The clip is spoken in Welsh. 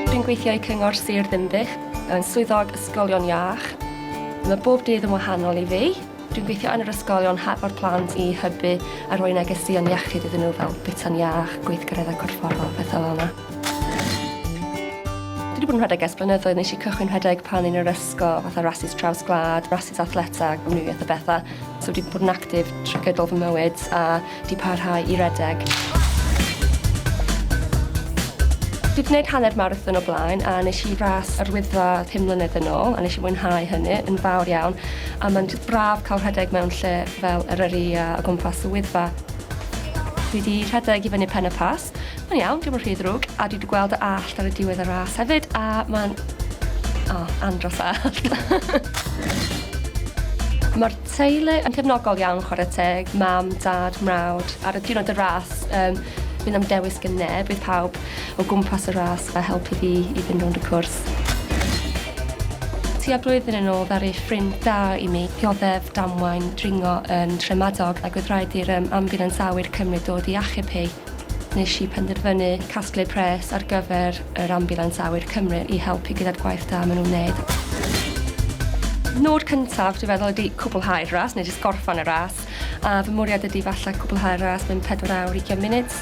Dwi'n gweithio i Cyngor Sir Ddinbych yn Swyddog Ysgolion Iach. Mae bob dydd yn wahanol i fi. Dwi'n gweithio yn yr ysgolion hefo'r plant i hybu a rhoi negeseuon iechyd iddyn nhw fel bwyta'n iach, gweithgareddau corfforol, pethau fel 'na. Dwi 'di bod yn rhedeg ers blynyddoedd, nesh i cychwyn rhedeg pan o'n i'n yr ysgol. gwisgo fatha rasys traws gwlad, rasys athleta, gwmnïaeth a bethau. So wedi bod yn actif trwy gydol fy mywyd a di parhau i redeg. Dwi wedi gwneud hanner marathon o blaen a nes i ras yr wyddfa 5 mlynedd yn ôl a nes i mwynhau hynny yn fawr iawn a mae'n braf cael rhedeg mewn lle fel yr yrru a o gwmpas y wyddfa. Dwi wedi rhedeg i fyny pen y pas Allt. Mae'n iawn, diom yn rhy ddrwg, a dwi di gweld y Allt ar y diwedd y ras hefyd, a mae'n... O, andros o Allt. Mae'r teulu yn cefnogol iawn chwarae teg, mam, dad, mrawd. Ar y diwrnod y ras, um, bydd am dewis gen neb, bydd pawb o gwmpas y ras a helpu fi i fynd rownd y cwrs. Tua blwyddyn yn ôl ddaru ffrind da i mi dioddef damwain dringo yn Nhremadog ac oedd rhaid i'r yym ambiwlans awyr cymryd dod i achub hi. Nes i penderfynu casglu pres ar gyfer yr ambiwlans awyr Cymru i helpu gyda'r gwaith da ma' nhw'n neud. Nod cyntaf dwi feddwl ydi cwblhau'r ras neu jyst gorffan y ras a fy mwriad ydi falle cwblhau'r ras mewn pedwar awr ugian munud.